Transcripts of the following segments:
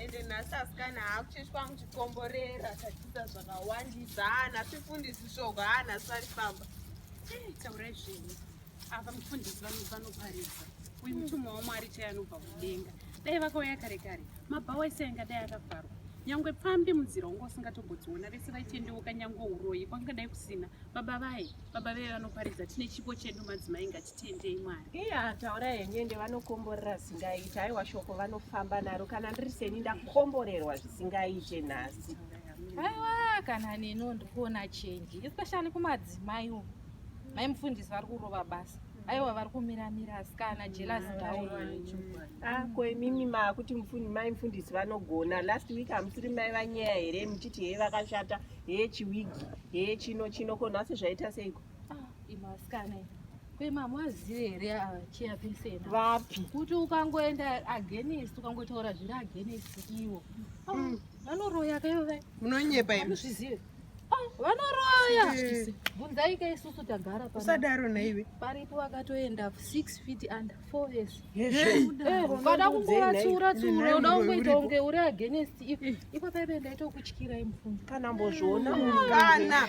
ende nhasi asikana haakuchechwa wangu chikomborera tatiza zvakawandisa haa nhasi fundisi shoko haa nhasi vari famba taurai zvenyu ava mufundisi vanoparidza uyu mutumwa wamwari chai anobva kudenga dai vakauya kare kare mabhawa ese anga dai akavharwa nyangwe pfambi munzira unga usingatombodziona vese vaitendeuka nyangwe uroyi kwangadai kusina baba vaye baba veye vanoparidza tine chipo chedu madzimai ngati tendei mwari iya taura henyu ende vanokomborera zvingaita aiwa shoko vanofamba naro kana ndiri seni ndakomborerwa zvisingaite nhasi aiwa kana neno ndikuona chenji especially kumadzimai umu mai mufundisi vari kurova basa aiwa vari kumiramira asikana jelas daako ah, imimi maakuti mai mufundisi vanogona last week hamusiri mai vanyaya here muchiti heye vakashata heye chiwigi heye chino chino ko nhasi zvaita seiko Ah, imasikana kwemamwazive here achiya pesena vapi kuti ukangoenda agenist ukangotaura zviri agenist ivo ah, mm. vanoroya kaive munonyepa imuzvizive ah, vanoroya bvunzaika isusu tagara usadaro naive paripo vakatoenda six feet and four years ukada eh, kungovatsiura tsiura uda kungoita kunge uri agenist ipo paive ndaita kukutyirai mufundzi kana mbozviona kana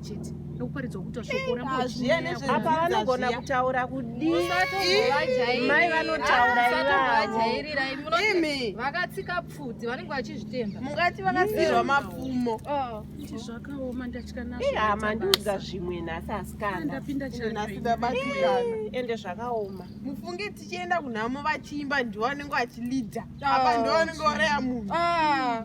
chete nokuparidzwa kuita shoko apa vanogona kutaura kudii mai vanotaura ivavoimi vakatsika pfudzi vanenge vachizvitemba mungati vakasirwa mapfumo oh. zvakaoma ndatya nazvohama ndiudza zvimwe nhasi asikandaindabatikanaende zvakaoma mufunge tichienda kunhamo vachiimba ndivo vanenge vachilidha apa ndivo vanenge vareya munhu ah.